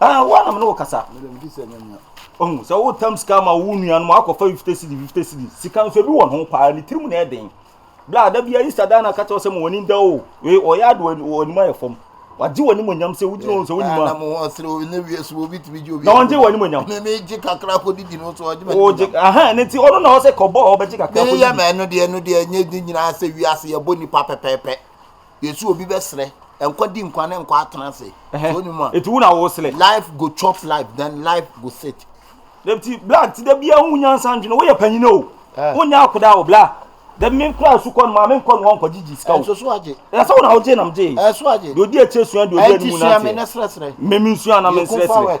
Ah, wo anam ne wo kasa. Mede medi sɛ nyɛ mea. Ɔhu sɛ wotam sika ama wo nuanom akɔfa 50 cedi 50 cedi. Sika nso ebi wɔn ho paa, ne tirim na ɛden. Bla ada bi ayi sadan na kakyɛ sɛ mo wani da o. We ɔyɛ ade wɔ anim ayɛ fam. Wagye wani mo nyam sɛ wogyina wɔn sɛ wonim a. Na mo ho sere ne wie so obi tumi gye obi. Na wɔgye wani mo nyam. Me me gye kakra kɔ didi no so ɔgye mo. Ogye aha ne ti ɔno na ɔsɛ kɔbɔ ɔbɛgye kakra kɔ didi. Me yɛ mɛ no deɛ no deɛ nyɛ di nyinaa sɛ wiase yɛ bɔ nipa pɛpɛpɛ. Yɛse obi bɛsrɛ nkɔ di nkwa ne nkwa atena ase so onim a. Eti wo na wosrɛ. Life go chop life then life go sit. Dɛbti bla nti da bia hu nyansa ndwene woyɛ panyini o wonyɛ akoda o bla dɛbi me kura su kɔ no maa me nkɔ no nkɔ gyigyi sika o ɛnso so agye ɛsɛ wo na wogye nam gye ɛso agye deɛ odi akyire sua deɛ odi anim nante ɛnti sua me ne srɛsrɛ me me nsua na me nsrɛsrɛ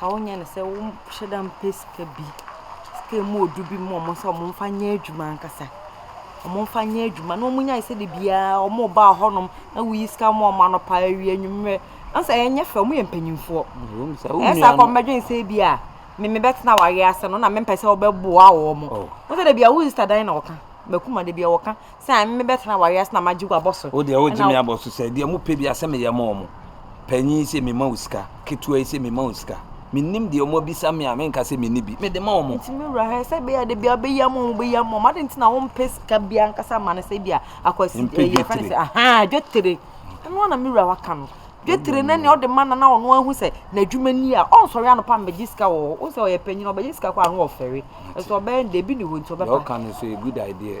Ka wo nyɛ no sɛ wo hyɛ da mpɛ sika bi. Sika emu odu bi mu wɔn sɛ wɔn mfa nyɛ adwuma ankasa. Wɔn mfa nyɛ adwuma na wɔn nya sɛ de biara wɔn ba hɔnom na woyi sika ma wɔn anɔpa awie anwummerɛ. Ansa ɛnyɛ fɛ wɔn yɛ mpanyinfoɔ. Ɛsa kɔm bɛdwen sɛ bi a me me bɛtena awareɛ ase no na mempɛ sɛ wɔbɛboa wɔn. Wɔn sɛ de biara wo sista dan na wɔka. Bakuma de biara wɔka. Sɛ ame mebɛtena w'awease na magye w'abɔ so. Wo deɛ wogye me abɔ so sɛ deɛ mopɛ biara sɛ meyɛ ma wɔn. Panyin yi sɛ mema wo sika, ketewa yi sɛ mema wo sika. Mennim deɛ wɔabisa me a menka sɛ menni bi. Mede ma wɔn. Enti me wura, sɛ ɛbɛyɛ a da biara wobɛyam wɔn, wobɛyam wɔn. Adɛn nti na wompɛ sika biara ankasa mma no sɛ ebia akwasi, Mempɛ yɛfrɛ no dwetire. sɛ, ahaa, dwetire. Ɛno ara na me wura waka no. Dwetire ne nea ɔde ma no na ɔno ahu sɛ n'adwuma ni a, ɔnsɔre anɔpa mmɛgye sika wɔ hɔ. Wohu sɛ ɔyɛ panyin, ɔbɛgye sika koraa a, na wafɛre. Ɛso ɔbɛyɛ no dɛ, ebi nni hɔ nti Deɛ ɔbɛba. woka no nso yɛ good idea.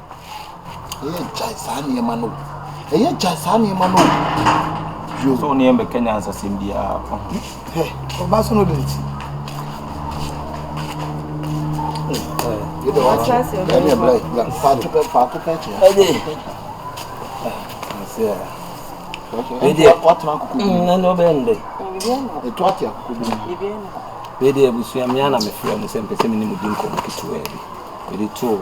Ɛyɛ gyae saa nneɛma no. Ɛyɛ gyae saa nneɛma no. Yo. So ne yɛn bɛka nyansasɛm biara. Hɛ, ɔba so no de ne ti. Bɛde abusua mmea na mefrɛ mu sɛ mpɛ sɛ me ne mu di nkɔmmɔ ketewa bi. Mede too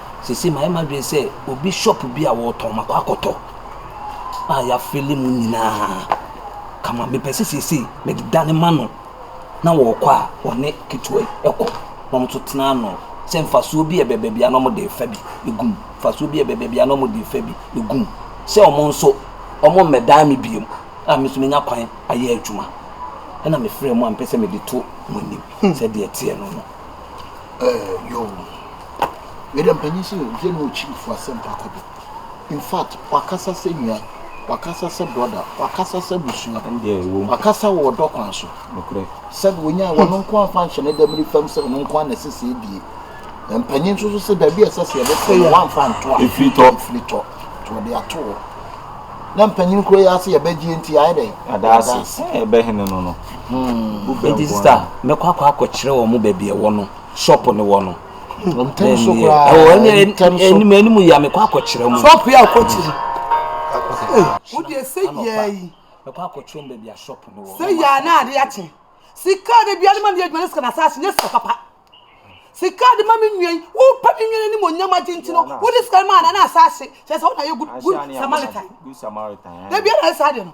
Seesei mayɛ m'adwene sɛ obi shop bi a wɔtɔn makɔ akɔtɔ a yɛafele mu nyinaa kama. Mepɛ sɛ seesei mede dane ma no na wɔkɔ a wɔne ketewa yi kɔ na wɔn nso tena ano sɛ mfasoɔ bi a ɛbɛ baabi a na wɔde refa bi gu mu, mfasoɔ bi a ɛbɛ baabi a na wɔde refa bi gu mu sɛ wɔn nso wɔmmɛdan me bio a me nso menya kwan ayɛ adwuma. Ɛna mefrɛɛ mo a mepɛ sɛ mede to mo anim sɛdeɛ ɛteɛ no no. Ɛɛ, yoo. Wei deɛ mpanin sɛ ɔyɛ ne ɔkyirifo asɛmpa kɔ do infact wakasa sɛ nua wakasa sɛ brɔda wakasa sɛ abusua wakasa wɔ ɔdɔ kwan so sɛde ɔnyaa wɔn nko amfa nhyɛ ne dɛm ne fam sɛ ɔno nko a na ɛsɛ sɛ ebie na mpanin nso so sɛ baabi a ɛsɛ sɛ yɛbɛtɔ yɛ wamfa nto a ɛfiri tɔ ɛfiri tɔ nti wɔde ato hɔ na mpanin kuro yɛ ase yɛbɛgye nti ayɛ dɛ adaase ɛbɛhene no no hmm. nti sista mɛkɔ akɔ akɔkyerɛ wɔn baabi ɛwɔ no shop no wɔ no. Hmm, ntɛm so koraa. Ɛwɔ ɛnyɛ ntɛm so. Ɛnim ɛnim yia mekɔ akɔkyerɛ mu. Shop yɛ akɔkyiri. Wo deɛ sɛ yia yi. Mekɔ akɔkyerɛ mu baabi a shop no wɔ. Sɛ yia na ade akye. Sika de bia ne ma ne adwuma ne sika na saa nyɛ sika papa. Sika de ma me nua yi. Wo pa me nua ne mo nyam agye nti no. Wo de sika ma na na asase. Kyɛ sɛ wo na yɛ good good Samaritan. Good Samaritan. Da bia na saa de no.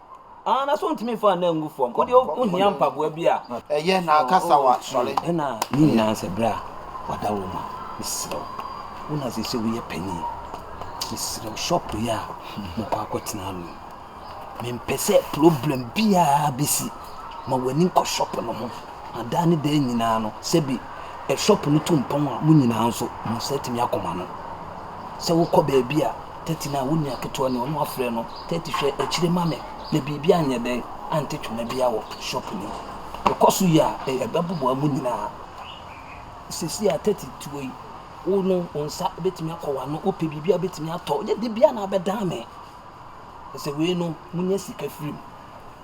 Ah, na so ontumi mfa anan ngu fam? Wo deɛ wohia mpaboa bi a. Ɛyɛ, na ka sawa, sɔre. Ɛna ne nyinaa sɛ berɛ a wada wo ma. Mesrɛ wo, wo na seesei woyɛ panin. Mesrɛ wo, shop yi a mokɔ akɔtena no, mempɛ sɛ problem biara bɛsi. Ma w'ani nkɔ shop no ho, na daa ne daa nyinaa no, sɛbi shop no tu mpɔn a, mo nyinaa nso mo nsa atumi akɔma no. Sɛ wokɔ baabi a. Tati na wo nua ketewa ni, ɔno afrɛ no, Tati hwɛ akyire ma me na biribi anyɛ dɛn ante twene biara wɔ shop no mu. Ɛkɔ so yi a, ɛbɛboboa mo nyinaa. Seesei a Tati te hɔ yi, wo no wo nsa bɛtumi akɔ w'ano, wopɛ biribi a wobɛtumi atɔ, ɛnyɛ da biara na abɛdan me. Ɛsɛ wei no, monya sika firi mu.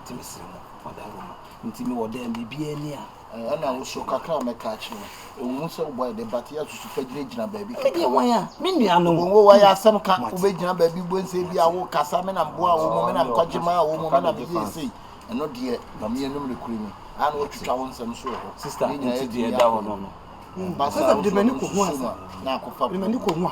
Nti mesrɛ mo, moadae mo ho. Nti mewɔ dan biribiara ni a. Ɛna wo so kakra a mɛka akyerɛ wo. Ɛwom sɛ wo bɔ yɛ den, but yɛ susu fa gyinagyina baabi kɛkɛ. Medeɛ wan a, me nuanom. Wɔn o, wɔyɛ asɛm ka. Wobɛgyina baabi boom sɛ ebi a wokasa, me na meboaa wɔn, me na mekɔgye maa wɔn, me na meyɛɛ sei. Ɛno deɛ, ma me anom nokorɛ ni. Ayɛ a na wɔatwitwa wo nsɛm so wɔ hɔ. Sister, nti deɛ ɛda hɔ no no. Ba saa wo so no nsusu mu a, na akɔfa poma.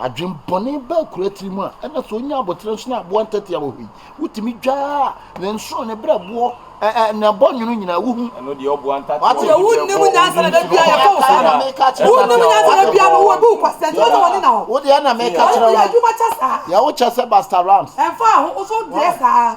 Adwembɔne baa akuraa tiri mu a, ɛna sɛ ɔnya aboterɛ nso na aboa ntɛtea wɔ hɔ yi, wotumi dwaa ne nsono, ne berɛboɔ, ɛ ɛ ne abɔnwono nyinaa, wohu. Ɛno deɛ ɔboa ntatea wɔ hɔ biara bɔ ɔwɔ mu nti hɔ. Ɛka wo saa na meka kyerɛ wo. Wonnim nyansa na bia no wobu kwa sɛ nti wosɛ wɔne na hɔ. Wodeɛ na meka kyerɛ wo no. Deɛ wokyɛ sɛ Busta Rams. Ɛmfa ho, wosɛ wodeɛ saa.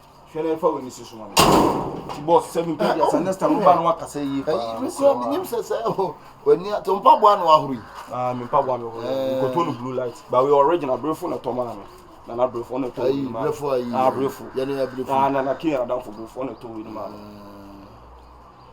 hwɛ na ɛfa w'ani si so ma me ti bɔs sɛ mempɛ eh, deɛ sɛ oh, next time woba no wakasa yie paa mesɛ menim sɛ sɛ oh, w'ani ato mpaboa na wahoro yi ah, me mpaboa me horo eh. nkɔtɔ no blue light ba wei original berefo na ɛtɔ maa me nana berefo ɔna ɛtɔ wei maa berefo ah, nana kenya adamfo berefo ɔna ɛtɔ wei maa me eh.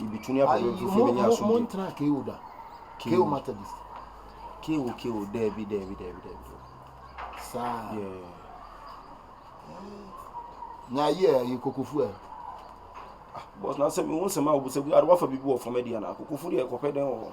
Yebetumi aba Awurade fie benya asomdwoe. Mo ntra KO da. KO Methodist. KO KO daabi daabi daabi daabi. Saa. Yeah. Na yɛ yɛ kokofu ɛ. Ah, boss na sɛ me hu sɛ ma obusabu adewa fa bibi wɔ fam adi ana kokofu de ɛkɔpɛ dɛn wɔ hɔ.